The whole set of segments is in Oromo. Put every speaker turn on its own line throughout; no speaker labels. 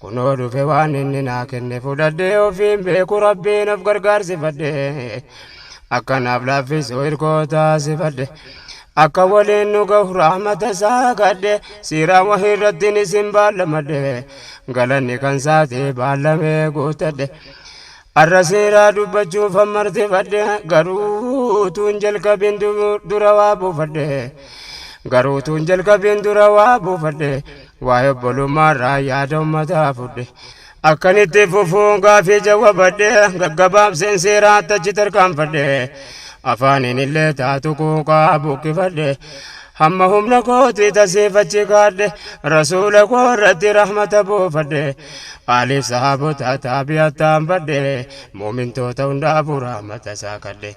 Kunoo dhufe waan inni naa kenne fudhadhee ofiin beeku rabbiin of gargaarsifadhe akka naaf laaffisu irkoo taasifadhe akka waliin nu gahu rahmata isaa kadhe siiraan wahii irrattiin isin baallamadhe galanni kan saati baallamee guutadhe arra siiraa dubbachuuf hammartifadhe garuu tuun jalqabin dura waa buufadhe garuu tuun jalqabin dura waa buufadhe Waa'ee obbolummaarraa yaada ummataa fudhe. Akkan itti fufuun gaafii jawwabadhe gaggabaabseen seeraatti achi tarkaanfadhe. Afaaniin illee taatu quuqaa buqqifadhe. Hamma humna kootii tasiif achi kaadhe. Rasuula koo irratti rahmata buufadhe. Aaliif sahaabota taabi'attaan badhe. Muumintoota hundaafuu rahmata isaa kadhe.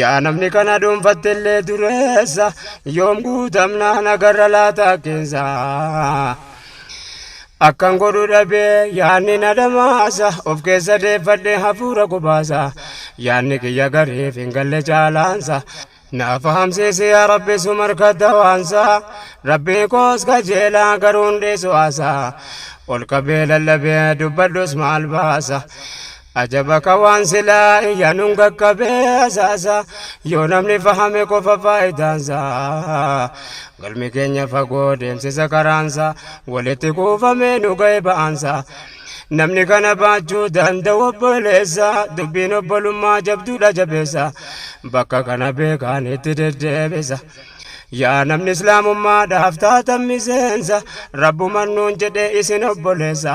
Yaa namni kana dhuunfattellee dureessa yoom guutamnaa nagarra laata hakkeensa. Akkan godhu dhabee yaanni na dhamaasa of keessa deeffadhe hafuura qubaasa yaanni kiyya gariif hin galle caalaansa. Na fahamsiisi yaa rabbi sum harkadha waansa rabbii koos kajeelaa garuu hundee su'aasa ol qabee lallabee dubbadhus maal baasa. Ajaba ka waan silaa iyyanuun qaqqabee asaasa yoo namni fahame qofa faayidaansa galmi keenya fagoo deemsisa karaansa walitti kuufamee nu ga'e ba'aansa namni kana baachuu danda'u obboleessa dubbiin obbolummaa jabduudha jabeessa bakka kana beekaan itti deddeebisa yaa namni islaamummaadhaaf taatan miseensa rabbuman nuun jedhe isin obboleessa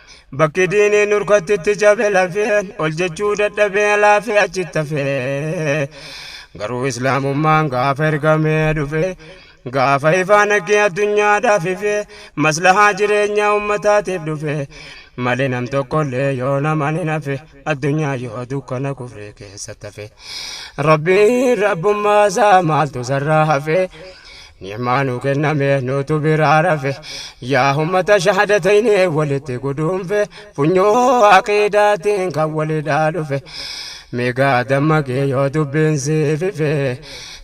Bakki diinii nurkatti itti cabe lafeen ol jechuu dadhabee laafee achitti hafee garuu islaamummaan gaafa ergamee dhufe gaafa ifaa naggee addunyaadhaaf ife maslahaa jireenyaa ummataatiif dhufe malee nam tokkollee yoo naman hin hafe. addunyaa yoo dukkana kufree keessa tafe rabbiin rabbummaa isaa maaltu sarraa hafe ni'maa nu kenname nutu biraa rafe yaa ummata shahadatayni walitti guduunfe funyoo aqiidaatiin kan walidhaa dhufe migaa dammaqee yoo dubbiin siifife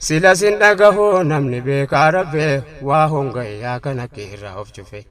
sila sin dhagahu namni beekaa rafe waa hongayyaa kana kiirraa of cufe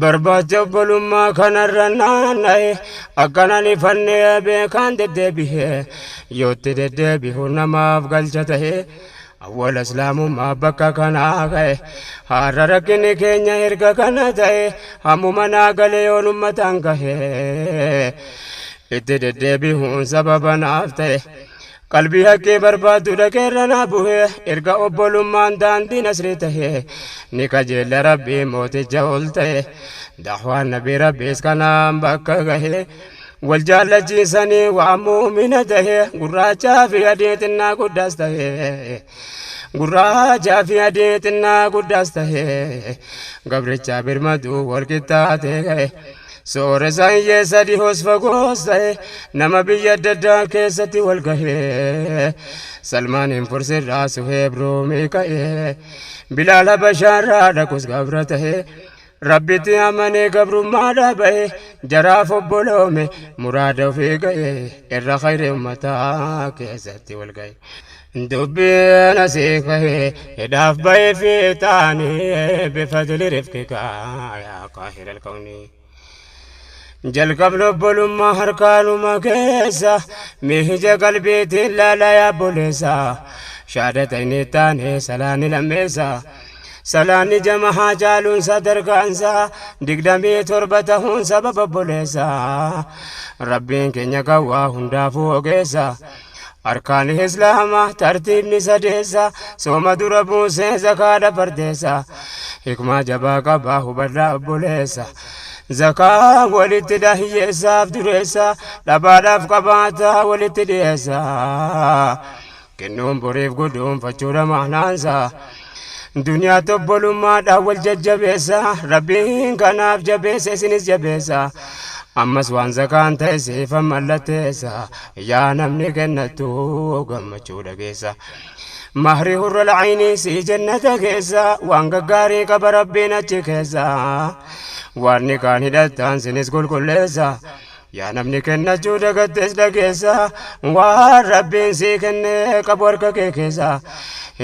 Barbaacha obbolummaa kanarra naanna'e akkanan ifannee beekaan deddeebi'e yootti deddeebi'u namaaf galcha ta'e awwala islaamummaa bakka kanaa ka'e har'a rakkinni keenya erga kana ta'e hammuma naa galee yoon ummataan ka'e itti deddeebi'uun sababa naaf ta'e. Qalbii haqqii barbaaddu dhaqee irra naa buhe erga obbolummaan daandii nasrii tahe ni kajeella rabbii mooticha ol ta'e dahwaan nabii rabbiis kanaan bakka gahe wal jaallachiisanii waan muumina tahe gurraachaa fi adii xinnaa guddaas tahe gurraachaa fi adii xinnaa guddaas tahe gabrichaa birmaduu wal qixxaatee gahe. Sooresaan yee sadi hoos fagoos ta'e nama biyya adda addaa keessatti wal gahee Salmaaniin Fursirraa Suheeb Ruumii ka'ee Bilaal Habashaarraa dhaqus gabra ta'e Rabbitti amanee gabrummaadhaa ba'e jaraaf obboloome muraada ofii ga'e irra khayri ummataa keessatti wal ga'e. Dubbiin asii kahe hidhaaf bahe fiixaani bifadli rifqika yaa qaahira alkawni jalqabni obbolummaa harkaanuma keessa miija qalbiitiin laala yaa boleessa shaadata inni taane salaanni lammeessa salaanni jamahaa caaluun sadarkaansa digdamii torba tahuun sababa obboleessa rabbiin keenya kan waa hundaafuu ogeessa Arkaan Islaamaa tartiibni sadeessa sooma dura buusee zakaadha fardeessa hikmaa jabaa qabaa hubadhaa obboleessa zakaa walitti dhahiyyeessaaf dureessa dhabaadhaaf qabaataa walitti dhiyeessa kennuun boriif guduunfachuudha maanaansaa Duniyaa tobbolummaadhaan wal jajjabeessa Rabbiin kanaaf jabeessa isinis jabeessa Ammas waan zakaan ta'e siifan mallatteessa Yaa namni kennattu gammachuu dhageessa Mahri hurra laciinii sii jannata keessa Waan gaggaarii qaba Rabbiin achi keessa Waan nikaan hidhattaan sinis qulqulleessa Yaa namni kennachuu dagattes dhageessa waan rabbiin sii kenne qabu harka kee keessa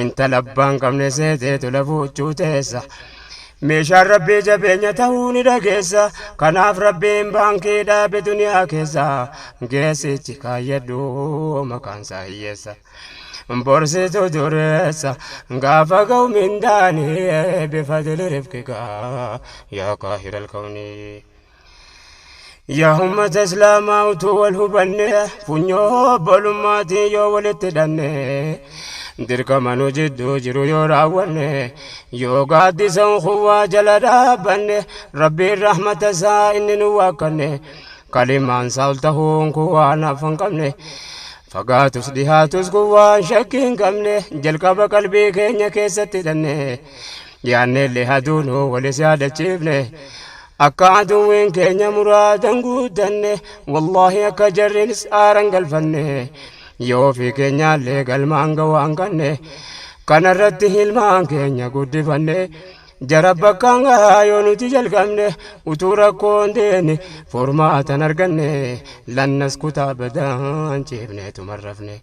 intala abbaan qabne seeteetu lafuuchuu teessa meeshaan rabbii jabeenya ta'uu ni dhageessa kanaaf rabbiin baankii dhaabe duniyaa keessa geessichi kaayyadhu maqaan isaa hiyyeessa borsitu dureessa gaafa ga'u mindaanii bifadili rifqigaa yaa qaahiral kawnii Yaa ummata islaamaa utuu wal hubanne funyoo obbolummaatiin yoo walitti hidhanne dirqama nu jidduu jiru yoo raawwanne yoo gaaddisa unkuwwaa jala dhaabbanne rabbiin rahmata isaa inni nu waakkanne kalimaan isaa ol tahuun kun waan hafa hin qabne fagaatus dhihaatus kun waan shakkii hin qabne jalqaba qalbii keenya keessatti hidhanne yaanneellee haduunuu walis yaadachiifne Akka aduwween keenya muraadan guuttanne wallaahi akka jarriinis aaran galfanne yoo fi keenyaallee galmaan gawaan kanne kanarratti ilmaan keenya guddifanne jara bakkaan gahaa yoo nuti jalqabne utuu rakkoon deene furmaatan arganne lannas kutaa badaan ciifneetuma rafne.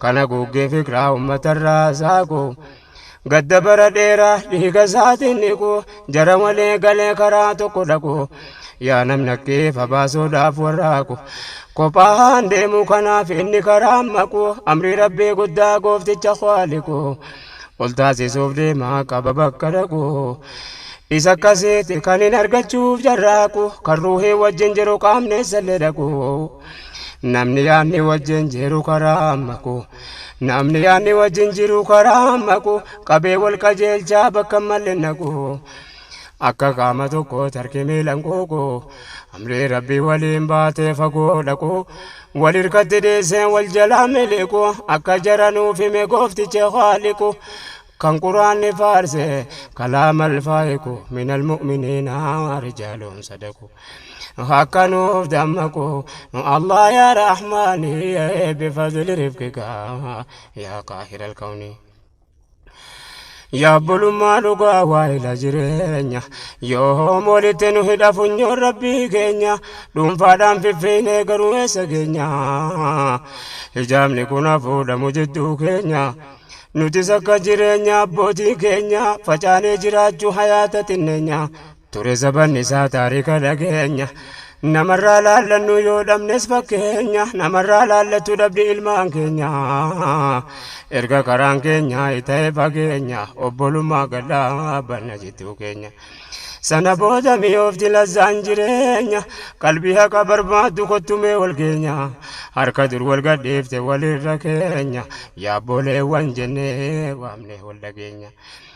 Kan haguuggee fikiraa ummatarraa saaqu Gadda bara dheeraa dhiiga isaatiin dhiqu Jara walii galee karaa tokko dhaqu Yaa namni akkeef abaasuudhaaf warraaqu Kophaan deemuu kanaaf inni karaa maqu Amrii rabbii guddaa goofticha kwaaliqu Ol taasisuuf deemaa qaba bakka dhaqu Isa akkasiiti kan hin argachuuf jarraaqu Kan ruuhii wajjin jiru qaamni issallee dhaqu Namni yaadni wajjin jiru karaa maqu. Namni yaadni wajjin jiru karaa maqu qabee wal qajeelchaa bakka malle naqu. Akka qaama tokko tarkii miilan quuqu. Amrii rabbii waliin baatee fagoo dhaqu. Wal hirkatti dhiiseen wal jalaa miliqu. Akka jara nuuf hime goofticha haaliqu. Kan quraanni faarse kalaamal faayiku minal mu'miniina rijaalun sadaku. akka nuuf dammaqu nu Allah yaa Rahmaani bifadli rifqika yaa qaahira alkawni Yaabbulummaa dhugaa waa'ila jireenya yoom walitti nu hidha funyoon rabbii keenya dhuunfaadhaan fiffiine garuu eessa keenya hijaabni kun hafuudhamu jidduu keenya nutis akka jireenya abbootii keenya facaanee jiraachuu hayaata xinneenya Ture zabanni isaa taarika dhageenya Namarraa laallannu yoo dhabnes fakkeenya Namarraa laallattu dhabdi ilmaan keenya Erga karaan keenya ta'e fageenya Obbolummaa gad dhaabbanna jidduu keenya Sana booda mi'oofti lazzaan jireenya Qalbii haqa barbaaddu kottu mee wal geenya Harka dur wal gadhiifte walirra keenya Yaabbooleewwan jennee waamnee wal dhageenya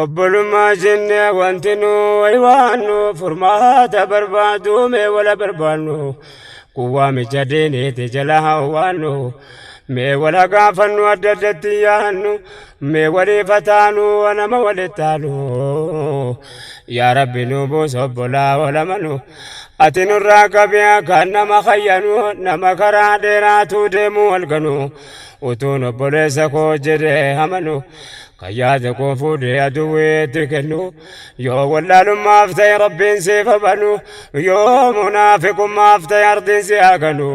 obbolummaa jenne wanti nu waywaannu furmaata barbaaduu mee wala barbaannu kuwwaa micha diiniiti jala hawwaannu mee wala gaafannu adda addatti yaannu mee waliif hataanu nama walittaanu yaa rabbi nu buus obbolaa olamanu ati nurraa qabi kan nama kayyanu nama karaa dheeraatuu deemuu halkanu utuun obboleessa koo jedhee amanu kan yaada koo fuudhee aduwweetti kennu yoo wallaalummaaf ta'e rabbiin siif habanu yoo munaafiqummaaf ta'e ardiin si haganu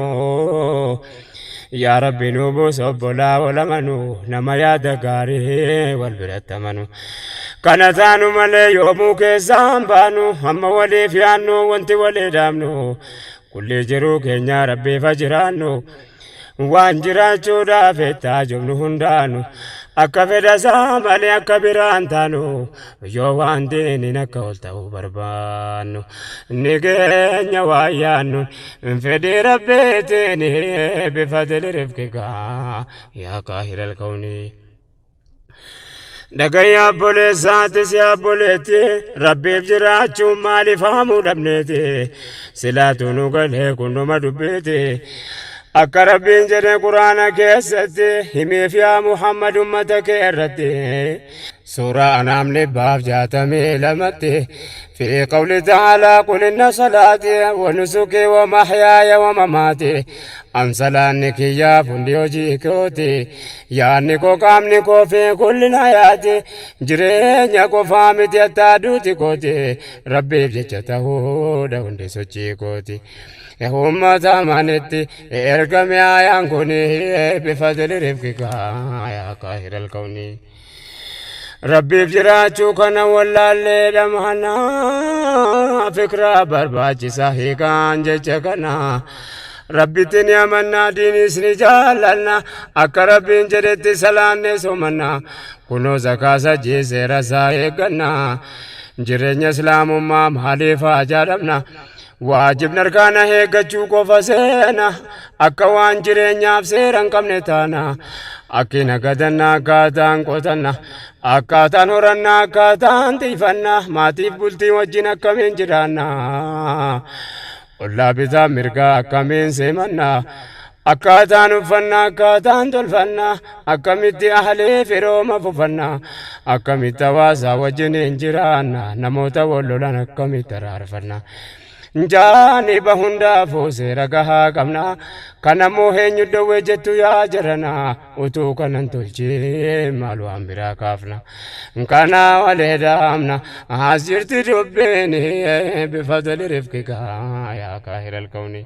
yaa rabbi nu buus obbolaa wal amanu nama yaada gaarii wal biratti amanu kana taanu malee yoomuu keessaan baanu amma waliif yaannu wanti walii dhaabnu kulli jiruu keenyaa rabbiif ha jiraannu Waan jiraachuudhaaf ettaa jobnu hundaanu akka fedhasaa malee akka biraan taanu yoo waan diiniin akka ol ta'uu barbaannu ni keenya waan yaannu fedhii rabbiitiin bifadili rifqikaa yaa kaahilal kawnii. Dhagaya abboleessaatti si abboleetti rabbiif jiraachuun maaliif haamuu dhabneeti silaatu nu galee kunnuma dubbiiti akka rabbiin jedhe quraana keessatti himiif yaa muhammad ummata kee irratti suuraa anaam dhibbaaf jaatamii lamatti fi qawli ta'aalaa qul inna salaati wa nusuki wa mahyaaya wa mamaati Ansalaanni kiyyaa fundi hojii kooti yaadni koo qaamni koo fi kullina yaati jireenya qofaa miti attaa duuti kooti rabbiif jecha tahuudha hundi sochii kooti ummata amanitti ergame ayaan kuni bifadili rifqika yaa kaahiral kawnii Rabbiif jiraachuu kana wallaallee dhamhana fikraa barbaachisaa hiikaan jecha kana. Rabbitti ni amannaa diiniis ni jaallanna akka rabbiin jedhetti salaanne somanna kunoo zakaasa jiiseera isaa eegganna jireenya islaamummaa maaliif haa jaadhamna Waajibni arkaana heeggachuu qofa seena akka waan jireenyaaf seera hin qabne taana akkina gadanna akkaataan qotanna akkaataan horanna akkaataan tiifanna maatiif bultii wajjin akkamiin jiraanna ollaa bitaa mirgaa akkamiin seemanna Akkaataan uffannaa akkaataan tolfannaa akkamitti ahlee firooma fufannaa akkamitti hawaasaa wajjiniin jiraanna namoota wal lolan akkamitti araarfannaa jaaniba hundaafuu seera gahaa qabnaa kanammoo eenyu dhoowwee jettu yaa jaranaa utuu kanan tolchee maal waan biraa kaafna kanaa walee daamna as jirti dubbiin bifa tolirifkikaa yaa kaahiralkawnii.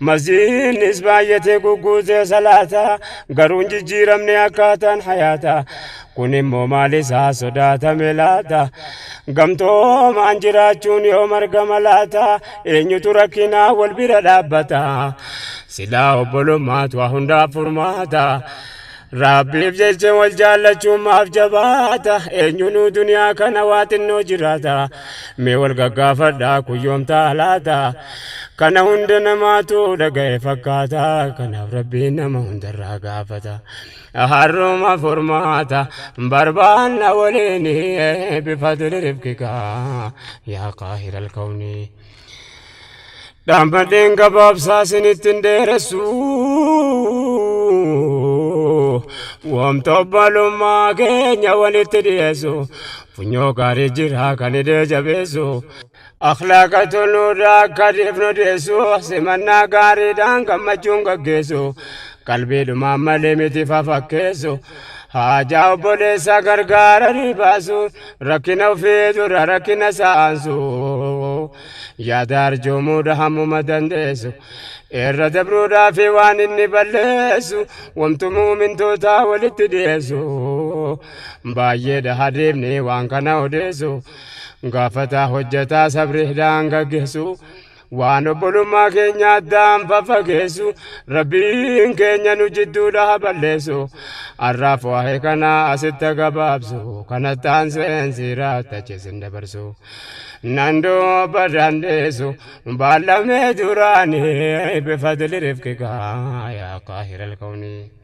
Masiihiinis baay'atee gugguutee salaata, garuu hin jijjiiramne akkaataan hayaata. Kun immoo maal isaa sodaatame laata? Gamtoomaan jiraachuun yoo margama laata? Eenyutu rakkinaa wal bira dhaabbata? Silaa obbolummaatu waa hundaaf furmaata. Rabbiif jecha wal jaallachuun maaf jabaata eenyunuu duniyaa kana waa xinnoo jiraata mee wal gaggaafadhaa kun yoom ta'a laata kana hunda namaatu dhaga'e fakkaata kanaaf rabbiin nama hundarraa gaafata harruma furmaata barbaanna waliin bifadli rifkikaa yaa qaahiral kawnii Dhaammadheen gabaabsaa isinitti hin dheeressu. Wamta obbalummaa keenya walitti dhiyeessu. Funyoo gaarii jira kan hidhee jabeessu. Akhlaaqa toluudha akka dhiifnu dhiyeessu. Simannaa gaariidhaan gammachuun gaggeessu. Qalbiidhumaan malee miti fafakkeessu. Haajaa obboleessaa gargaaranii baasuun. Rakkina ofii dura rakkina saansu yaada arjoomuudha hammuma dandeessu irra dabruudhaa fi waan inni balleessu wamtu muumintootaa walitti dhiyeessu baay'eedha hadeemni waan kana odeessu gaafataa hojjataa sabri hidhaan gaggeessu Waan obbolummaa keenya addaan faffageessu Rabbiin keenya nu jidduudha haa balleessu. Har'aaf waa'ee kana asitti haa gabaabsu. Kanatti aanseen siiraa tachi isin dabarsu. Nan dubba dandeessu baallamee duraanii bifadli rifqikaa yaa qaahiral kawnii.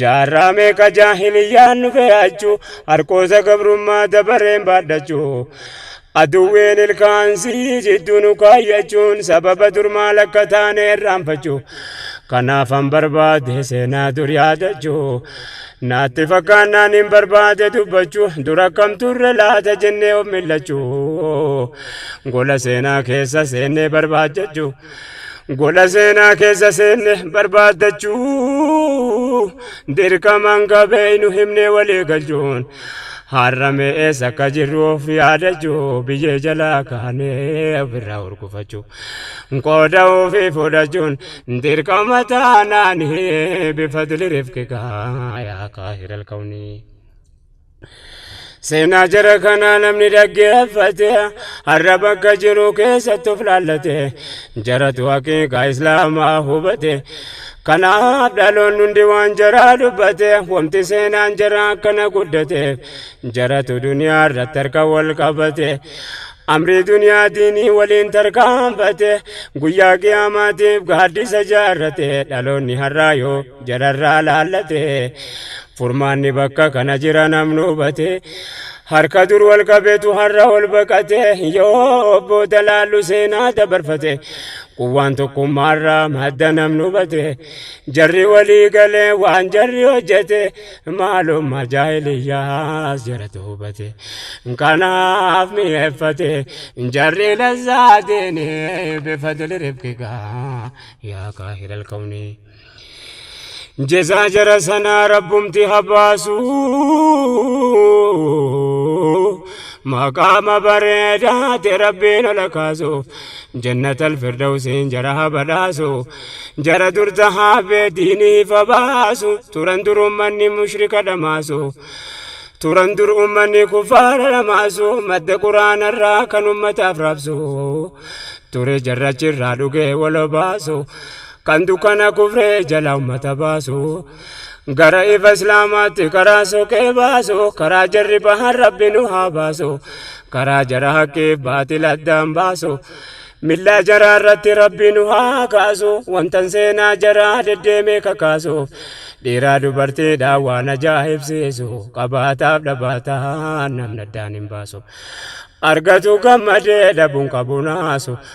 Jaarraa meeqa jaahiliyyaan nu fe'achu harqoosa gabrummaa dabareen baadhachu aduwween ilkaan sii jidduu nu kaayyachuun sababa durmaa lakka taane irraanfachu kanaafan barbaade seenaa dur yaadachu naatti fakkaannaan hin barbaade dubbachu dur akkam turre laata jennee of millachu gola seenaa keessa seennee barbaajjachu Gola seenaa keessa seenne barbaaddachuu dirqamaan qabeeynu himnee walii galchuun har'amee eessa akka jirru of yaadachuu biyyee jalaa kaanee ofirraa hurgufachuu qooda ofii fudhachuun dirqama taanaanii bifadli rifqikaa yaa kaahiral kawnii. Seenaa jara kanaa namni dhaggeeffate har'a bakka jiru keessatti of laallate jaratu haqiiqaa islaamaa hubate kanaaf dhaloonni hundi waan jaraa dubbate wanti seenaan jara akkana guddate jaratu duniyaa irratti harka wal qabate amrii duniyaa diinii waliin tarkaanfate guyyaa qiyaamaatiif gaaddisa jaarrate dhaloonni har'aa yoo jararraa laallate Furmaanni bakka kana jira namni hubate harka dur wal qabeetu har'a ol baqate yoo obbo Dalaallu seenaa dabarfate quwwaan tokkummaarraa madda namni hubate jarri walii galee waan jarri hojjete maalummaa jaahiliyyaas jaratu hubate kanaaf mi'eeffate jarri lazzaa diinii bifadli rifqigaa yaa kaahilal kawnii. jezaa jara sanaa rabbumti habaasu maqaama bareedaate rabbiin ola kaasuuf jannata alfirdawsiin jara habadhaasu jara dur tahaa beediiniif habaasu turan dur ummanni mushrika dhamaasu turan dur ummanni kufaara dhamaasu madda quraanarraa kan ummataaf raabsu ture jarrachirraa dhugee wal obaasu Kan dukkana kufree jala ummata baasu gara ifa islaamaatti karaa soqee baasu karaa jarri bahan rabbi nu haa baasu karaa jara haqqiif baatil addaan baasu millaa jaraa irratti rabbi nu haa kaasu wantan seenaa jaraa deddeemee kakaasuuf dhiiraa dubartiidhaan waan ajaa'ibsiisu qabaataaf dhabaataan namni addaan hin baasu argatu gammadee dhabuun qabu naasu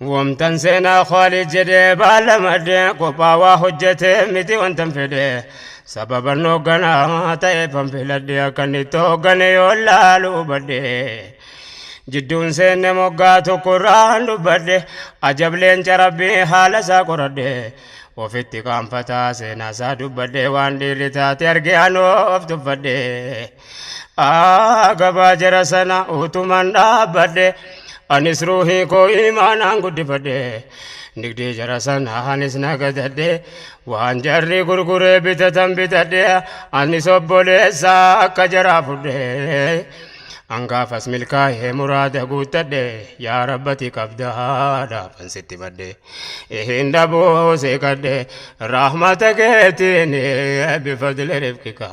Wamtan seenaa Khaalid jedhee baala madde kophaa waa hojjete miti wantan fedhe sababa hoogganaa ta'eefan filadhe akkan itti hooggane yoo laalu hubadhe jidduun seenne moggaa tokkorraan dubbadhe ajableen carabbii haala isaa qoradhe ofitti qaanfataa seenaa isaa dubbadhe waan dhiirri taate arge anoo of tuffadhe. Aa gabaa jara sana utuman dhaabbadhe anis ruuhii koo imaanaan guddifadhe nigdee jara sana anis nagadadhe waan jarri gurguree bitatan bitadhe anis obboleessa akka jaraa fudhe angaafas milkaa'ee muraada guuttadhe yaa rabbati qabdaa dhaafan sitti badhe. hin dhabuu si kadhe rahmata keetiin bifadli rifqika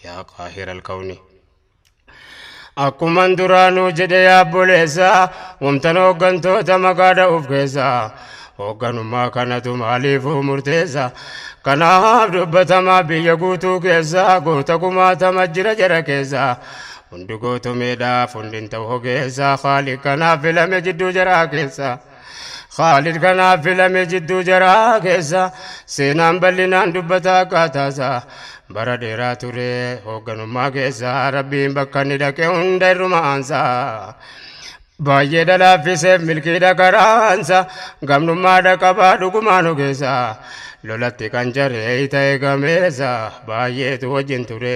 yaa qaahira alkawni akkuman duraanuu jedhe yaabboleessa wamtan hooggantoota maqaa dha'uuf keessa hoogganummaa kanatu maaliifuu murteessa kanaaf dubbatamaa biyya guutuu keessa goota kumaatama jira jara keessa hundi gootomeedhaaf hundin ta'u hogeessa haali kanaaf filame jidduu jaraa keessa Khaalid kanaaf filame jidduu jaraa keessa seenaan bal'inaan dubbata akkaataasaa bara dheeraa ture hoogganummaa keessa rabbiin bakka inni dhaqe hunda irruma aansaa baay'ee dhalaaffiseef milkiidha karaansa gamnummaadha qabaa dhugumaan ogeessa lolatti kan jaree ta'e gameessa baay'eetu wajjin ture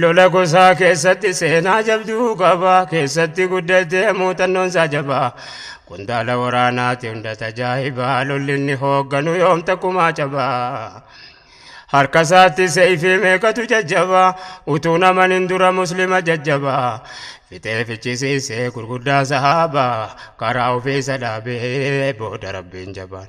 Lola gosaa keessatti seenaa jabduu qaba. Keessatti guddatee muuxannoon isaa jabaa. Qondaala waraanaati hunda tajaajibaa. Lolli inni hoogganu yoom takkumaa cabaa. Harka isaatti seeyfii meeqatu jajjabaa. Utuu naman hin dura muslima jajjabaa. Fixee fichisiisee gurguddaa sahaabaa. Karaa ofiisa dhaabee booda rabbiin jabaan.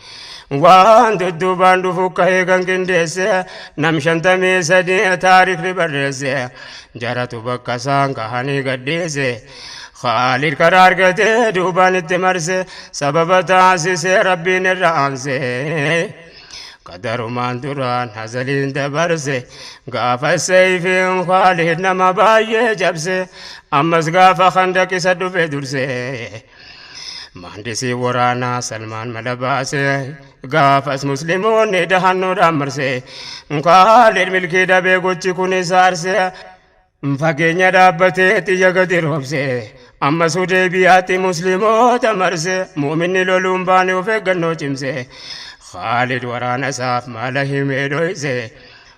Waan dudduubaan dhufu ka'ee kan qindeesse nam shantamii sadii taarikni barreesse jaratu bakka isaan kahanii gadhiise Khaalid karaa argatee duubaan itti marse sababa taasise rabbiin irra aanse qadarumaan duraan hazaliin dabarse gaafa seeyfiin Khaalid nama baay'ee cabse ammas gaafa khandaq isa dhufe durse Maandisii waraanaa Salmaan mala baasee gaafas musliimoonni dahannoodhaan marsee Kaalid milkii dhabee gochi kun isa arsee fageenya dhaabbatee xiyya gadi roobsee amma sudee biyyaatti musliimoota marsee muuminni loluun baane of eeggannoo cimsee Kaalid waraana isaaf mala himee dhoysee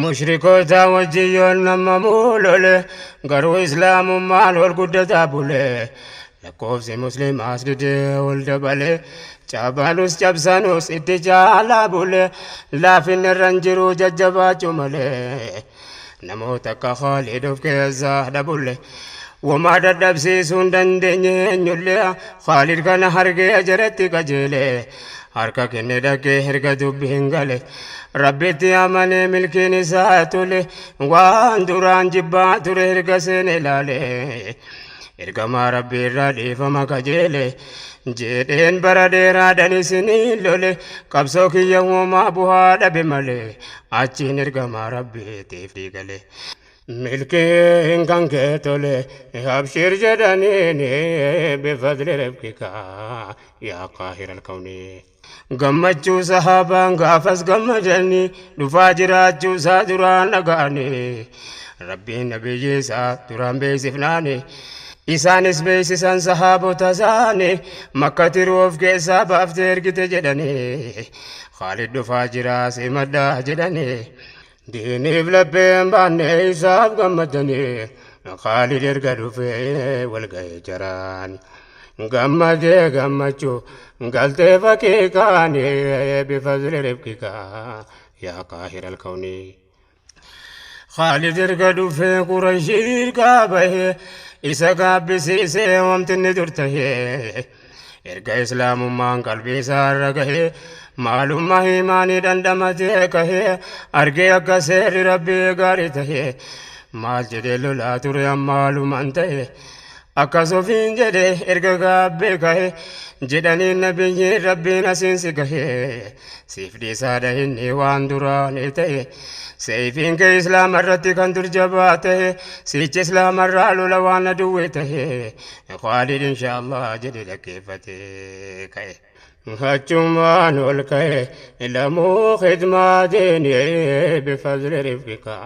Mushrikootaa wajjin yoon nammamuu lole garuu islaamummaan ol guddataa bule lakkoofsi muslimaas didee ol dabale cabanus cabsanus itti caalaa bule laafinni irran jiruu jajjabaachuu male namoota akka Khaalid of keessaa dhabulle womaa dadhabsiisuu hin dandeenye eenyulle Khaalid kana hargee jaratti qajeele harka kenne dhaqee erga dubbi hin gale rabbitti amanee milkiin isaa tole waan duraan jibbaa ture erga seene ilaale ergamaa rabbii irraa dhiifama kajeele jeedheen bara dheeraadhan isinii lole qabsoo kiyya uumaa buhaa dhabe malee achiin ergamaa rabbiitiif dhiigale Milkiin kan kee tole abshiir jedhaniini bifadli rabbika yaa qaahir alkawni. Gammachuu sahaabaan gaafas gammadani dhufaa jiraachuu isaa duraan dhaga'ani. Rabbiin nabiyyi isaa duraan beeksifnaani. Isaanis beeksisan sahaabota isaani makka tiruu of keessaa baaftee ergite jedhani. Khaalid dhufaa jiraa simadhaa jedhani. Diiniif lapheen baannee isaaf gammadanii Khaalid erga dhufee wal ga'e jaraan. Gammadee gammachuu galtee fakkii kaanii bifazli rifqikaa yaa qaahir alkawnii. Khaalid erga dhufee qurashii dirqaa bahee isa gaabbisiisee wamtinni dur tahee. Erga islaamummaan qalbii isaa irra gahee maalummaa himaanii dhandhamatee kahee argee akka seerri rabbii gaarii tahee maal jedhee lolaa ture ammaalumaan ta'e akkas ofiin jedhe erga gaabbee kahe jedhanii nabiyyiin rabbiin asiin si gahe siif dhiisaadha inni waan duraanii ta'e seeyfiin kee islaama irratti kan dur jabaa ta'e siicha islaama irraa lola waan aduwwee ta'e Khaalid inshaallah jedhe dhaggeeffate ka'e. Achumaan ol ka'e lamuu khidmaa deeni bifadli rifqika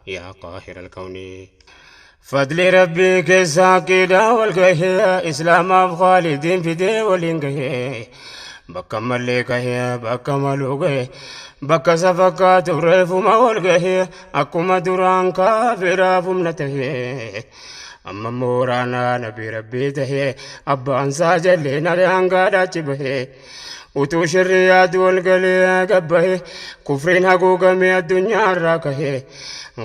yaa qaahir alkawni. Fadli rabbii keessa aqiidaa wal gahe islaamaaf khaalidiin fidee waliin gahe. Bakka mallee kahe bakka maluu gahe bakka isa fakkaatu reefuma wal gahe akkuma duraan kaafiraaf humna tahe. Amma immoo waraanaa nabii rabbii tahee abbaansaa jallee naree hangaadhaachi bahee. Utuu shirri yaadu wal galee gabbahe kufriin haguugamee addunyaa irraa kahe.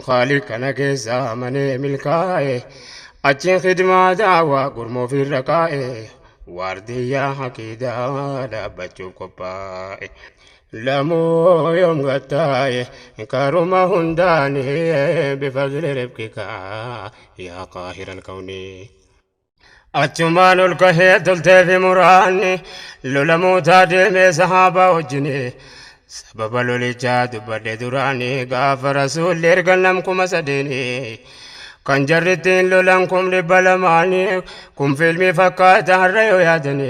Khaaliq kana keessaa amanee milkaa'e achiin khidmaa daawaa gurmoo ofirra kaa'e. Waardiyyaa haqiidaa dhaabbachuuf qophaa'e. Lamuu yoom gattaaye karuma hundaani bifazli ribqika yaa qaahiral kawnii. Achumaan ol kahee tolteefi muraanni lola muutaa deemee sahaabaa wajjini sababa lolichaa dubbadhe duraani gaafa rasuulli erga nam kuma sadeeni kan jarrittiin lolan kum dhibba lamaani kun fiilmii fakkaata har'a yoo yaadani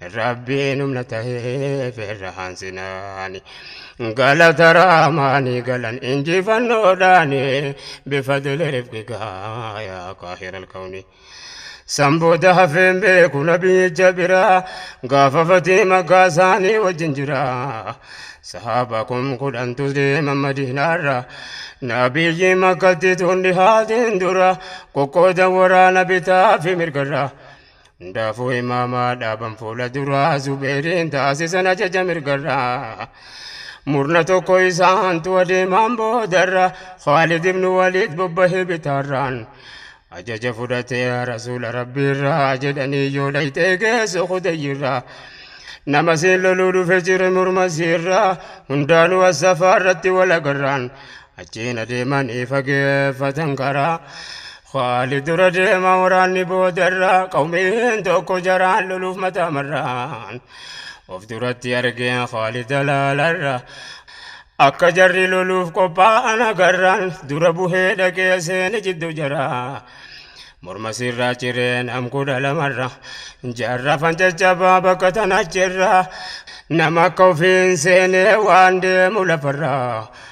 Rabbiin humna taheef irra hansinaani. Galata raamaani galan injifannoodhaani. Bifadili rifqigaa yaa qaahira alkawni. San booda hafeen beeku nabiyyicha biraa. Gaafa fatii makkaa isaanii wajjin jira. Sahaaba kum kudhantu deema madiinaarra. Nabiyyi makkatti tun dhihaatiin dura. Qoqqoodan waraana bitaa fi mirgarra. Hundaafuu imaamaa dhaaban fuula duraa Zubeeriin taasisan ajaja mirgarraa. Murna tokko isaantu adeemaan boodarra Khaalid ibnu Waliid bobbahee bitaarraan. Ajaja fudhatee rasuula rabbiirraa jedhanii yoo dhayxee geessu kudayyirraa. Nama siin loluu dhufe jire murma siirraa hundaanuu assafaarratti walagarraan. Achiin adeemanii fageeffatan karaa. Khaalid dura deema waraanni boodarra qawmeen tokko jaraan loluuf mataa marraan of duratti argeen Khaalid alaalarra akka jarri loluuf qophaa'an agarraan dura buhee dhaqee seene jidduu jaraa morma sirraa ciree nam kudha lamarra jarra fancaccabaa bakka tanachirra nama akka ofiin seenee waan deemu lafarraa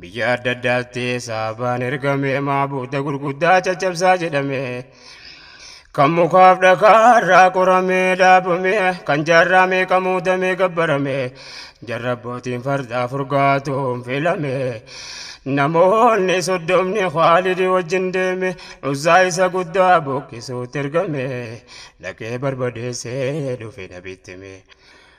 Biyya adda addaatti saabaan ergame maabuuta gurguddaa caccabsaa jedhame. Kan mukaaf dhakaarraa qoramee dhaabame kan jaarraa meeqa muudamee gabbarame jarra abbootiin fardaa furgaatuun filame. Namoonni soddomni Khaalidi wajjin deeme uzaa isa guddaa buqqisuutti ergame dhaqee barbadeessee dhufe nabitti mee.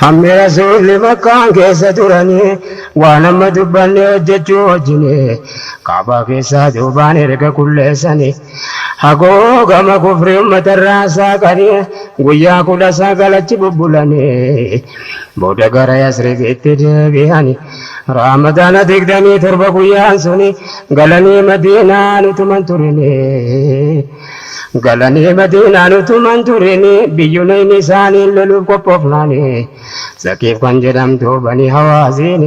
Hammi Rasuulli Makkaan keessa turanii waan amma dubbanne hojjachuu wajjini Ka'baa keessaa duubaan erga qulleessani hagoogama kufrii ummatarraa saaqani guyyaa 19 achi bubbulani booda gara Yasribitti deebihani Raamadaana 27 guyyaan suni galanii Madiinaan utuman turini Galanii Madiinaan utuma hin turin biyyuleen isaanii loluuf qophoofnaan Saqiif kan jedhamtu Banii Hawaazin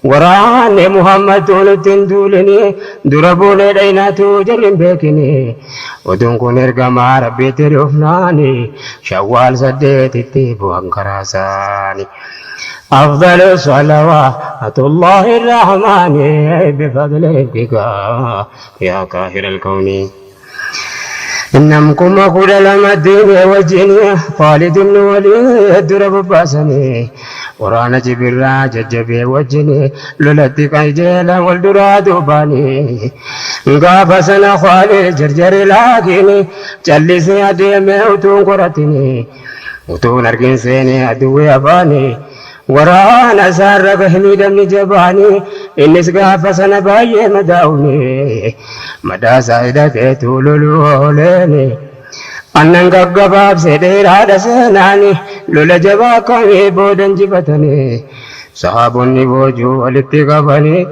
waraanni Muhammad utuu nutti hin duulin dura buunee dhayna utuu jarri hin beekin. Oduun kun ergamaa Rabbiitti dhufnaan Shawwaal saddeetitti bu'an karaa isaanii. Afdalu Salawaatullaahi Rahmaani bifadli Rabbika. yaa qaahiral kawni. Nam kuma kudha lama deemee wajjin Khaalid ibn Waliid dura bobbaasani. Waraana Jibirraa jajjabee wajjin lolatti qajeelan wal duraa duubaani. Gaafa sana Khaalid jarjare laakiin callisee adeeme utuu hin qoratini. Utuu hin argin seene aduwwi afaani. Waraana isaarra gahe miidhamni jabaan, innis gaafa sana baay'ee madaa'uun, madaa isaa hidhateetu loluu ooleen. An nan gaggabaabse dheeraadha seenaan, lola jabaa akkamii booda injifatanii, sahaabonni boojuu walitti qabanii,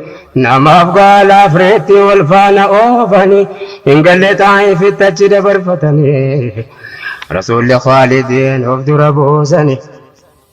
namaaf gaalaaf reettii wal faana oofanii, hin galle Xaa'ifitti achi dabarfatanii, Rasuulli Khaalidiin of dura buusanii.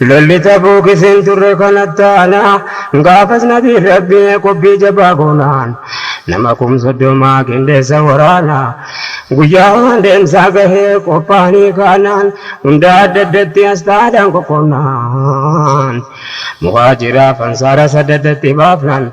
Lolli Tabuuki sin turre kan attaana, gaafas Nabiin Rabbii qophii jabaa goonaan, nama kum soddoma qindeessa waraana. Guyyaan deemsaa gahee qophaa'anii kaanaan, hunda adda addatti asxaadhaan qoqqoodnaan, Muhaajiraaf Ansaara saddadatti baafnaan.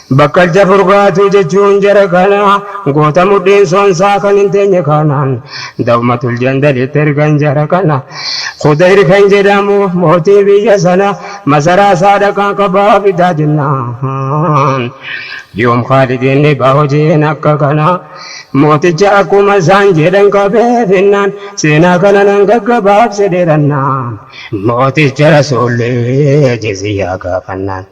Bakkalcha Furgaatuu jechuun jara kana goota mudhiin sonsaa kan hin teenye kana Dawmatul Jandalitti ergan jara kana Khudayr kan jedhamu mootii biyya sana masaraa isaa dhaqaa qabaa fidaa jennaan yoom Khaalidiin dhibaa hojiin akka kana mooticha akkuma isaan jedhan qabee finnaan seenaa kana nan gaggabaabse dheerannaan mooticha Rasuulli jiziyyaa gaafannaan.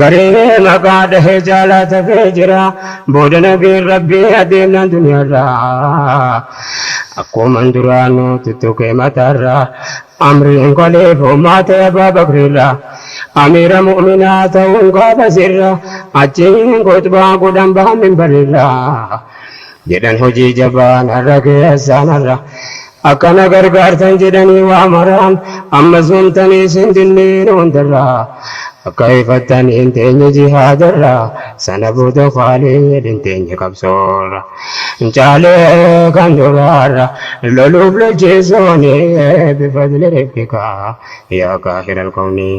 Garee maqaa dhahee jaalaa tafee jira Booda nageen rabbii adeemnaan duniyaarra Akkuman duraanuu tuttuqee mataarra Amriin koliif homaa ta'e Abaa Bakriirra Amiira mu'minaa ta'uun gaafa sirra Achiin khuxbaa godhan bahan minbariirra jedhan hojii jabaa narra keessa narra akka na gargaartan jedhanii waa maraan ammas wamtanii sin dinniin hundarra akka hifattan hin teenye jihaadarra sana booda kaaliin hin teenye qabsoorra caalee kan duraarra loluuf lolchiisuuni bifadli rifkikaa yaa kaahira alkownii.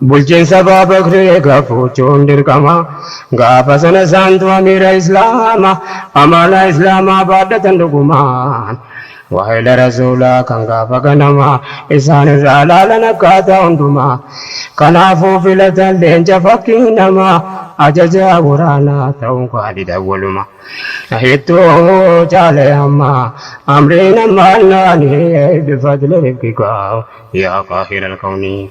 Bulchiinsa Abaa Bakri gafuuchuun dirqama. Gaafa sana isaantu amiira Islaama. Amaanaa Islaamaa baadhatan dhugumaan. Waahila Rasuulaa kan gaafa ganama. Isaan irraa laalan akkaataa hundumaa. Kanaafuu filatan leenca fakkii namaa. Ajajaa waraanaa ta'uun Khaalid awwaluma. Hittu caale amma amriin ammaannaanii. Bifadli rifqika yaa qaahira alkawnii.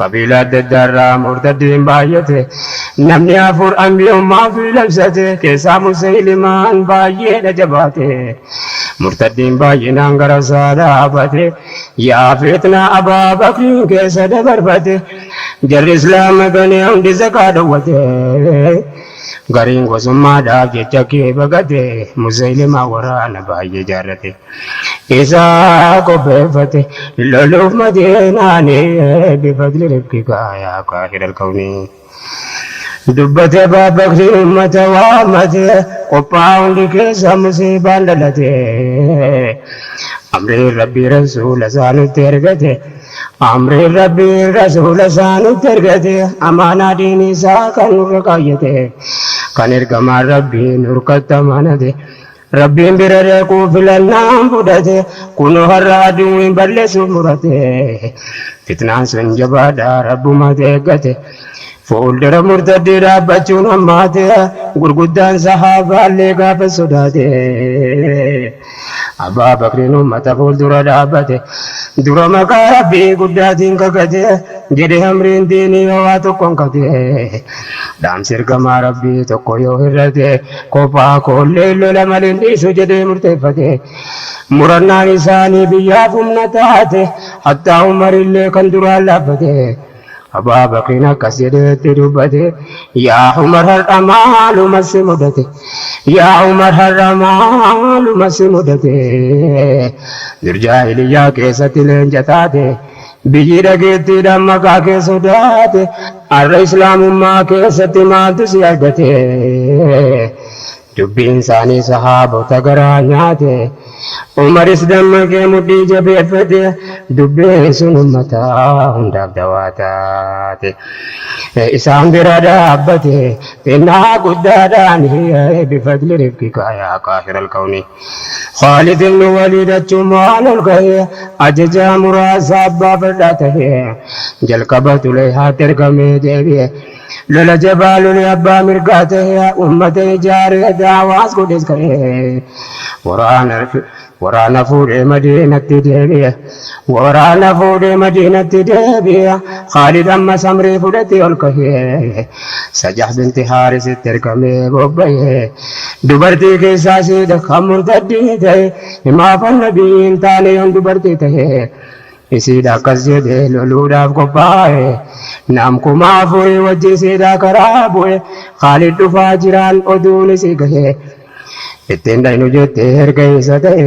Qabiilaa adda addaa irraa murtaddiin baay'ate. Namni afur anbiyummaa ofii labsate. Keessaa Musaylimaan baay'eedha jabaate. Murtaddiin baay'inaan gara isaa dhaabate. Yaa fitnaa Abaa Bakriin keessa dabarfate. Jarri Islaama ganee hundi zakaa dhowwate. Gariin gosummaadhaaf jecha kee baqate. Musaylimaan waraana baay'ee jaarrate. Isa qopheeffate loluuf Madiinaani bifadli rabbika yaa qaahira alkawni. Dubbate Abaa Bakriin ummata waammate qophaa'aa hundi keessa musiibaan dhalate. Amriin Rabbii Rasuula isaa nutti ergate Amriin Rabbii Rasuula isaa nutti ergate Amaanaa diinii isaa kan nurra kaayyate Kan ergamaan Rabbii nurkatti amanate. Rabbiin bira dhaquu filannaan fudhate kunoo har'a aduwwiin balleessuuf murate fitnaan sun jabaadha rabbumatu eeggate fuuldura murtaddii dhaabbachuun hammaate gurguddaan sahaabaallee gaafa sodaate abbaa bakriin ummata fuuldura dhaabbate dura maqaa rabbii guddaatiin kakate jedhe amriin diinii hawaa tokkoon kate Dhaamsi ergamaa Rabbii tokko yoo hir'ate kophaa koollee lola maliin dhiisu jedhee murteeffate. Murannaan isaanii biyyaaf humna taate hattaa Umarillee kan duraan laaffate. Abaa Bakriin akkas jedhee itti dubbate Yaa Umar har'a maaluma si mudate Yaa Umar har'a maaluma si mudate Dur jaahiliyyaa keessatti leenca taate Biyyi dhageettiidhaan maqaa kee sodaate har'a Islaamummaa keessatti maaltu si argate? Dubbiin isaanii sahaabota garaa nyaate. Umaris dammaqee mudhii jabeeffate, dubbiin sun ummata hundaaf dawaa taate. Isaan bira dhaabbate xinnaa guddaadhaan bifadli rifqika yaa qaahiral kawnii. Khaalid ibn Waliid achumaan ol ka'ee ajajaa muraasa abbaa fardaa ta'ee jalqaba Xuleyhaatti ergamee deebi'e. Lola jabaa lolee abbaa mirgaa ta'ee ummata ijaaree da'awaas godhes ka'ee waraana fuudhee Madiinatti deebi'e. Waraana fuudhee Madiinatti deebi'e. Khaalid ammas amrii fudhatee ol ka'ee Sajah binti Haarisitti ergamee bobba'e. Dubartii keessaa isiidha kan murtaddii ta'e. Himaafan Nabiyyi hin taane yoon dubartii ta'e. Isiidha akkas jedhee loluudhaaf qophaa'e. Nam kuma afurii wajji isiidha karaa bu'e. Khaalid dhufaa jiraan oduun isii gahe. Ittiin dhaynu jettee erga isa ta'e.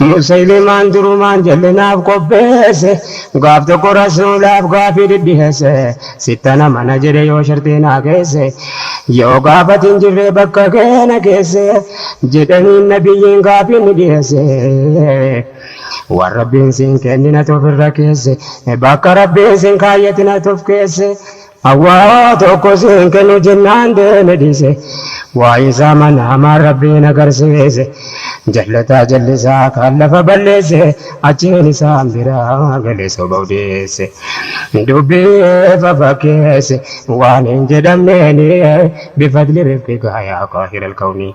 Musaylimaan durumaan jal'inaaf qopheesse gaaf tokko rasuulaaf gaafii dhidhiheesse sittana mana jedhe yoo sharxii naa keesse yoo gaafati hin jirree bakka keena keesse jedhaniin nabiyyiin gaafii ni dhiheesse waan rabbiin siin kenninatu ofirra keesse bakka rabbiin siin kaayyatinatu of keesse Awwaa tokko siin kennu jennaan deeme dhiise Waa'ee isaa manaamaan Rabbiin agarsiise Jallataa jallisaa kan lafa balleesse Achiin isaan biraa gale soba odeesse Dubbii fafakkeesse waan hin jedhamneeni Bifadli rifqika yaa qaahira alkawnii.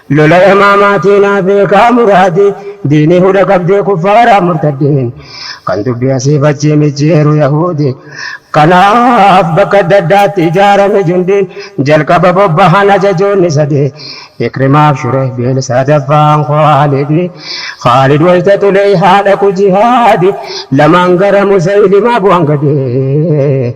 Lola yamaamaatii naa beekaa muraadii diinii huda qabdee kuffaaraa murtaddiin kan dubbii asiif achii micciiru yahuudii kanaaf bakka adda addaatti ijaarame jundiin jalqaba bobbahan ajajoonni sadii ikrimaaf shurehbiil sadaffaan khaalidii khaalid wayta xuleyhaa dhaqu jihaadii lamaan gara musaylimaa bu'an gadii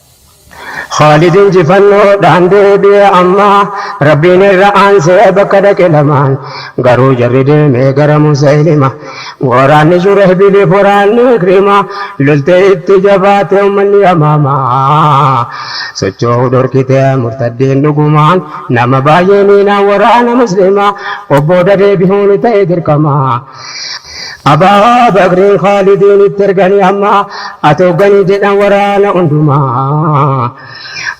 Khaalid injifannoodhaan deebi'e amma Rabbiin irra aansee bakka dhaqe lamaan garuu jarri deemee gara Musaylima waraanni Shurahbiliif waraanni Ikrima loltee itti jabaate ummanni Yamaama sochoo'uu dhorkite murtaddiin dhugumaan nama baay'ee miinaan waraana Muslima of booda deebi'uun ta'e dirqama. Abaa Bakrii Khaalidiin itti erganii amma ati hogganii jedhan waraana hundumaa.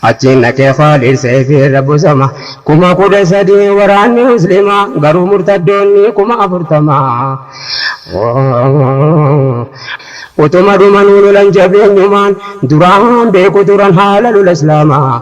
Achiin dhaqee Khaalid Seeyfii irra bosama. Kuma kudha sadii waraanni Muslimaa garuu murtaddoonni kuma afurtama. Utuma dhumanuu lolan jabeenyumaan duraan beeku turan haala lola Islaamaa.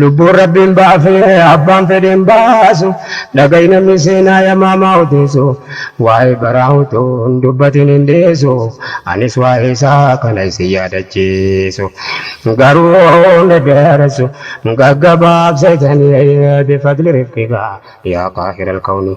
Lubbuun Rabbiin baafee abbaan fedheen baasu dhaga'i namni seenaa yamaamaa odeessu waa'ee baraa utuu hin dubbatin hin dhiisu anis waa'ee isaa kana isin yaadachiisu garuu hin dheeressu gaggabaabsee tanii bifadli rifqikaa yaa qaahiral kawni.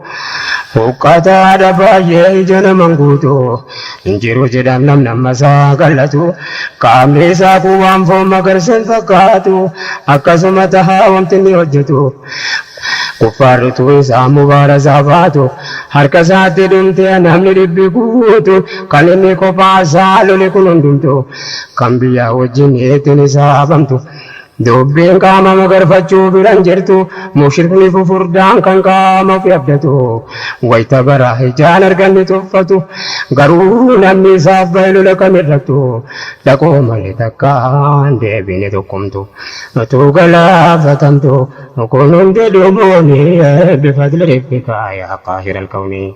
Huqqataadha baay'ee ija naman guutu Hin jiru jedhan namni amma isaa qal'atu Qaamni isaa kun waan foon magarsa hin fakkaatu Akkasuma taha wamti inni hojjetu Kuffaarri utuu isaan mubaarasaa baatu Harka isaatti dhumte namni dhibbi guutu Kan inni kophaa isaa lole kun hundumtu Kan biyyaa wajjin ittiin hisaabamtu Dubbiin qaama magarfachuu bira hin jirtu, mushrikni fufurdaan kan qaama ofi abdatu, wayta bara ijaan argan ni tuffatu, garuu namni isaaf bahe lola kamirrattu, dhaqoo malee takkaa hin deebine tokkomtu, utuu galaafatamtu, kun hundi dhumuuni bifadli ribbika yaa qaahiral kawni.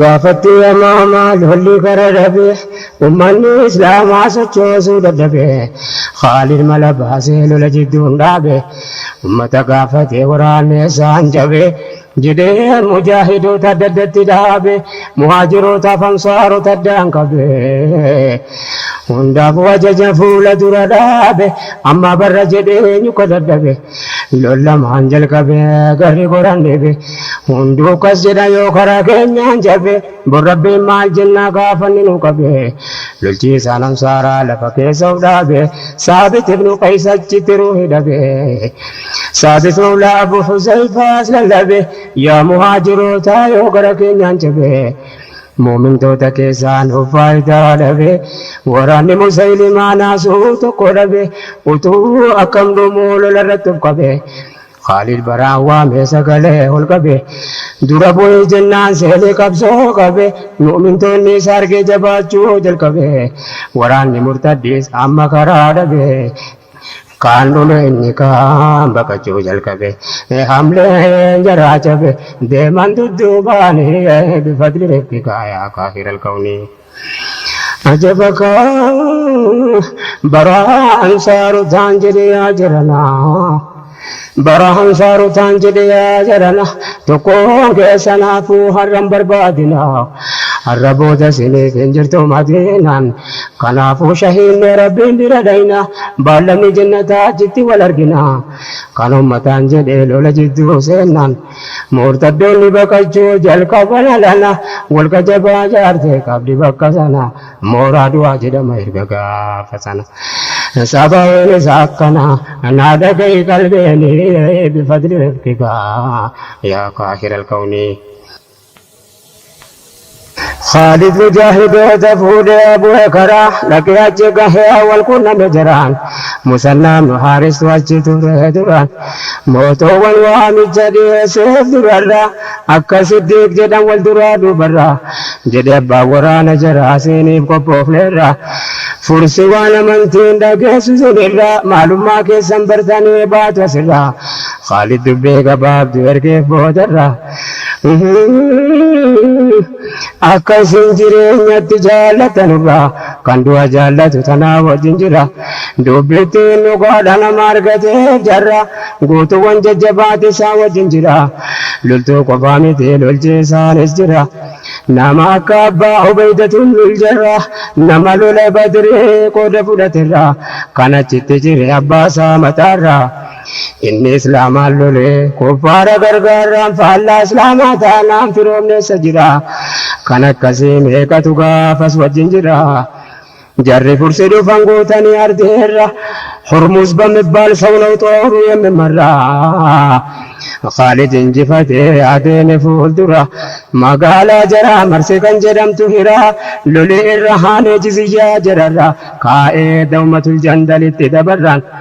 Gaafattii yamaama lolli gara dhabe ummanni islaamaa sochoosuu dadhabe Khaalid mala baasee lola jidduun dhaabe ummata gaafatee waraanni eessaan cabe jedhee mujaahidoota adda addatti dhaabe muhaajirootaaf ansaarota addaan qabe hundaafuu ajaja fuula dura dhaabe amma barra jedhee nyuka dadhabe Lollamaan jalqabe garri goraan deebe hunduu akkas jedha yoo karaa keenyaan cabe bor rabbiin maal jennaa gaafanni nu qabe lolchiisaan ansaaraa lafa keessa of dhaabe saabit ibnu qays achitti ruuhi dhabe saabit mawlaa abu huzayfaas lallabe yaa muhaajirootaa yoo gara keenyaan cabe Mu'mintoota keessaanuu faayidaa dhabe. Waraanni Musaylimaa naasuu tokko dhabe. Utuu akkam dhumuu lola irratti of qabe. Khaaliid Baraan waamee sagalee ol qabe. Dura bu'i jennaan seenee qabsoo qabe. Mu'mintoonni isa argee jabaachuu jalqabe. Waraanni murtaddiis amma karaa dhabe. Kaan dhule inni kaan baqachuu jalqabe. Hamleen jaraa cabe deeman dudduubaan bifadli rabbika yaa kaafira alkawni. Ajaba kaa baraa ansaarotaan jedhe yaa jaranaa. Bara ansaarotaan jedhe yaa jarana tokkoon keessan hafuu har'an barbaadina har'a booda siniif hin jirtu madiinaan kanaafuu shahiinne rabbiin bira dhayna baallamni jennataa achitti wal argina kan ummataan jedhe lola jidduu seennaan murtaddoonni baqachuu jalqaban alana wal qajabaa jaartee qabdi bakka sana Mooraa du'aa jedhama erga gaafa sana. Sababiin isaa akkana naa dhagahi qalbeeni bifadli rabbika yaa kaahira alkawni. Khaalid mujaahidoota fuudhee bu'e karaa dhaqee achi gahee wal qunname jaraan. Musannaa ibnu haaristu achi ture duraan. Mootoowwan waamicha dhiyeesseef durarraa. Akka Siddiiq jedhan wal duraa duubarra, jedhe abbaan waraana jaraa siiniif qophoofneerra. Fursi waan amantiin dhageessu sinirra, maalummaa keessan bartanii baatu asirra. Khaalid dubbii gabaabdu ergeef boodarra. Akka isin jireenyatti jaallatanurraa kan du'a jaallatu tanaa wajjin jira. Dubbittiin dhugaadha nama argateef jarra guutuuwwan jajjabaatti isaan wajjin jira. Loltuu qofaa miti lolchiisaanis jira. Nama akka abbaa Ubeeydatun lul jarra nama lola Badrii qooda fudhaterraa kan achitti cire abbaasaa mataarraa. Inni Islaamaan lole. Kuffaara gargaarraan faallaa Islaamaa taanaan firoomni eessa jira? Kan akkasii meeqatu gaafas wajjin jira. Jarri Fursi dhufan guutanii ardii irra. Hurmuz bamibbaal saw naw xooru yemmen marra. Khaalid injifatee adeeme fuuldura. Magaalaa jaraa marse kan jedhamtu Hira. Loli irra haanee jiziyyaa jararra kaa'ee Dawmatul Jandalitti dabarran.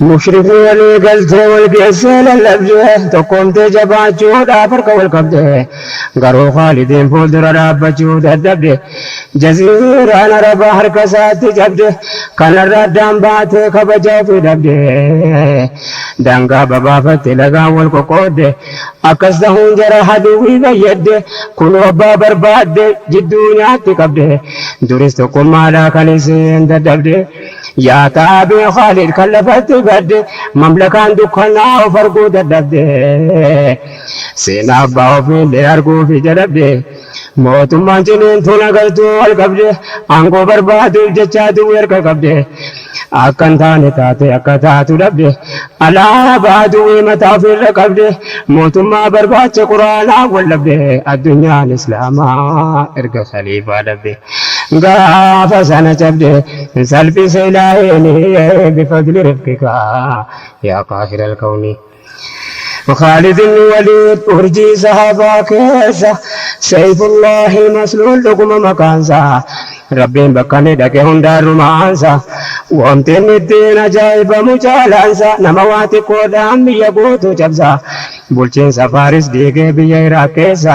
Mushrikni walii galtee wal geessee lallabde tokkoomtee jabaachuudhaaf harka wal qabde. Garuu Khaalidiin fuuldura dhaabbachuu dadhabde. Jaziiraan Arabaa harka isaatti cabde. Kanarra addaan baatee kabaja ofii dhabde. Daangaa babaafatte lagaan wal qoqqoodde. Akkas tahuun jara haduwwii fayyadde. Kunoo abbaa barbaadde jidduu nyaatti qabde. Duris tokkummaadhaa kan isiin dadhabde. Yaa taabii Khaalid kan lafatti badde mamlakaan dukkanaa of arguu dadhabde seenaa abbaa ofiillee arguufi jalabde mootummaan ciniintuun agartuu wal qabde aangoo barbaaduuf jechaa duwwi erga qabde akka hin taane taate akka taatu dhabde alaabaa duwwii mataa ofiirra qabde mootummaa barbaacha quraanaa wal dhabde addunyaan islaamaa erga khaliifaa dhabde. Gaafa sana cabde salphise ilaaheen bifadli rifqika yaa qaahiral kawni. Khaalidin waliid urjii sahaabaa keessa seyfullaahil masluul dhuguma maqaansa rabbiin bakka inni dhaqe hundaan rumaansa womti inni ittiin ajaa'ibamu caalaansa nama waa xiqqoodhaan biyya guutuu cabsa bulchiinsa faaris diigee biyya iraaq keessa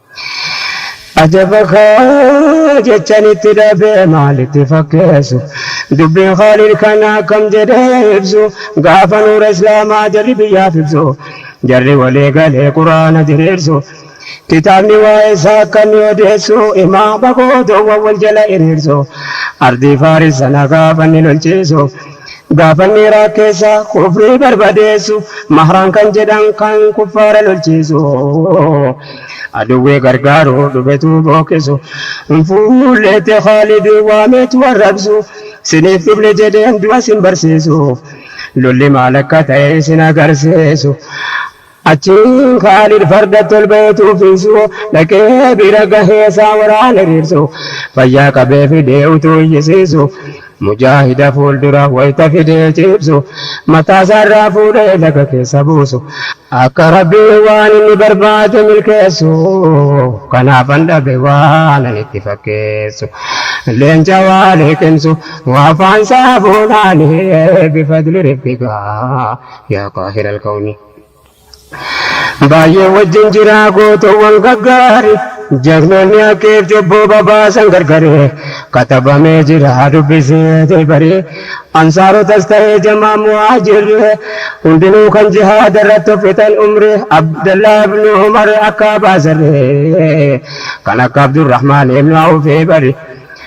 Ajaba koo jechan itti dhabe maalitti fakkeessu dubbiin Khaalid kana akkam jedhee ibsu gaafa nuura islaamaa jarri biyyaaf ibsu jarri walii galee quraana diriirsu kitaabni waa'ee isaa akka inni odeessu imaama gootoowwan wal jala hiriirsu ardii faaris sana gaafa inni lolchiisu Gaafanni raakkeessa kufrii barbadeessu mahraan kan jedhan kan kuffaara lolchiisu aduwwii gargaaru dhufetu bookisu fuulleetti khaalidiin waameetu arrabsu siniif dhufne jedheen du'a sin barsiisu lolli maal akka ta'e sin agarsiisu Achiin Khaalid fardatti ol ba'ee tuufiisu dhaqee bira gahee isaan waraana hiriirsu fayyaa qabee fidee utuu iyyisiisu mujaahida fuuldura wayta fidee ciibsu mataa isaarraa fuudhee laga keessa buusu akka Rabbiin waan inni barbaade milkeessu kanaafan dhabe waanan itti fakkeessu leenca waa liqimsu waa afaan isaa fuudhaanii bifadli ribbigaa. yaa qaahira alkawni. Baay'ee wajjin jiraa gootoowwan gaggaari jagnoonni akkeef cubbuu babaasan gargari katabamee jira dubbisee tilbari ansaarotas ta'ee jamaa muhaajirri hundinuu kan jihaada irratti fixan umri abdallaa ibnu umar akka baasarri kan akka abdurrahmaan ibnu awfii bari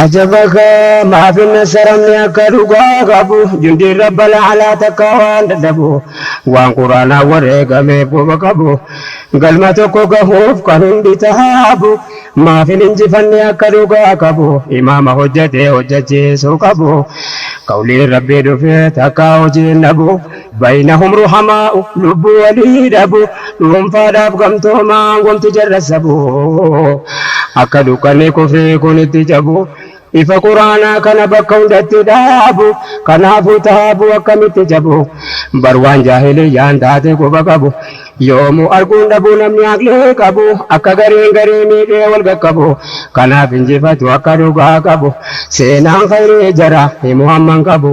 Ajaba kaa maaf hin nassaramne akka dhugaa qabu jundiin rabbal alaa takkaa waan dadhabu waan quraanaan wareegameef quba qabu galma tokko gahuuf kan hundi tahaabu maaf hin injifanne akka dhugaa qabu imaama hojjatee hojjachiisuu qabu qawliin rabbii dhufee takkaa hojiin dhabu. Baynahum ruhamaa'u lubbuu walii dhabu dhuunfaadhaaf gamtoomaan wanti jarra sabu akka dukkanni kufrii kun itti cabu ifa quraanaa kana bakka hundatti dhaabu kanaafuu taabu akkamitti cabu bar waan jaahiliyyaan taate quba qabu yoomuu arguun dhabu namni aqlee qabu akka gareen garee miidhee wal qaqqabu kanaaf injifatu akka dhugaa qabu seenaan khayrii jara himu hamman qabu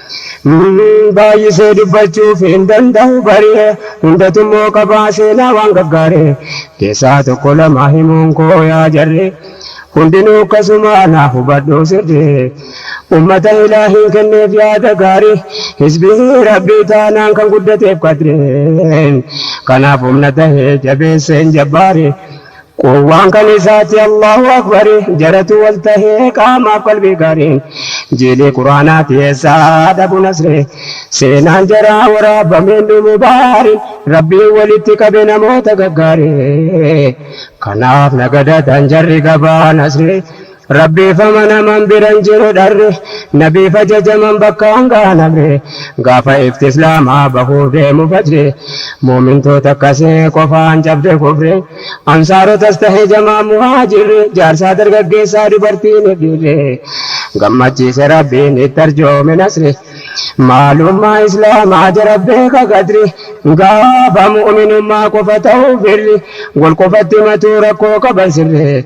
Baay'isee dubbachuuf hin danda'u bari'e hundatummoo qabaa seenaa waan gafgaare keessaa tokko lama himuun koo yaa jarri hundinuu akkasuma naa hubadhu sirri ummata ilaahiin kenneef yaada gaari hizbii rabbii taanaan kan guddateef qadreen kanaaf humna tahee jabeesseen jabbaare Quwwaan kan isaati Allaahu Akbari Jalatuu wal tahee qaamaaf qalbii gaariin Jiilii Qur'aanaati eessaa dhabu nasrii Seenaan jaraa waraabame hin dhumu baariin Rabbiin walitti qabe namoota gaggaarii Kanaaf na gadatan jarri gabaa nasrii Rabbiifama naman biran jiru dharri Nabiif ajajaman bakkaan gahan amri Gaafa ifti islaamaa bahuuf deemu fajri Mu'mintoota akkasii qofaan cabde kufri Ansaarotas tahe jamaan muhaajirri Jaarsaa dargaggeessaa dubartiinif dhiirri Gammachiise Rabbiin itti arjoome nasri Maalummaa islaamaa jara beeka qadri Gaafa mu'minummaa qofa tahu firri Wal qofatti himatuu rakkoo qaban sirri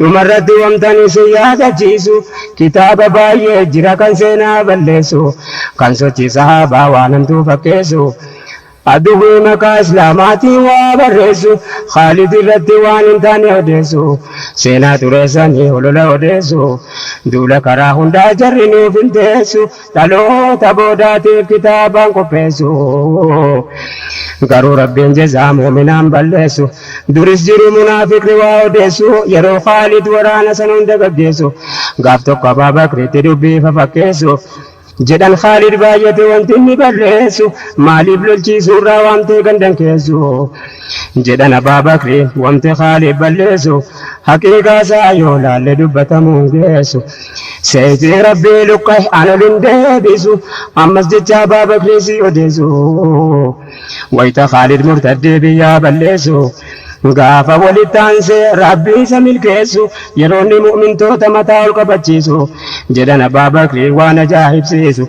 Dhumarratti wantani isin yaadachiisu kitaaba baay'ee jira kan seenaa balleessu kan sochii sahaabaa waan hamtuu fakkeessu Aduwwii maqaa islaamaatiin waa barreessu Khaalid irratti waan hin taane odeessu Seenaa xureessanii holola odeessu Duula karaa hundaa jarri nuuf hin teessu Dhaloota boodaatiif kitaabaan qopheessu Garuu Rabbiin jazaa mu'minaan balleessu Duris jiru munaafiqni waa odeessu Yeroo Khaalid waraana san hunda gaggeessu Gaaf tokko Abaa Bakritti dubbii fafakkeessu Jedhan Khaalid baay'ate wanti inni balleessu Maaliif lolchiisuurraa waamtee gandan keessu Jedhan Abaa Bakriin wamte Khaalid balleessu Haqiiqaasaa yoo laalle dubbatamuun geessu. Seeyxii Rabbii luqqa'e an ol hin deebisu. Ammas jecha Abaa Bakrii sii odeessu. Wayta Khaalid murtaddee biyyaa balleessu. Gaafa walitti aansee Rabbi isa milkeessu. Yeroo inni mu'mintoota mataa ol qabachiisu. Jedhan Abaa Bakrii waan ajaa'ibsiisu.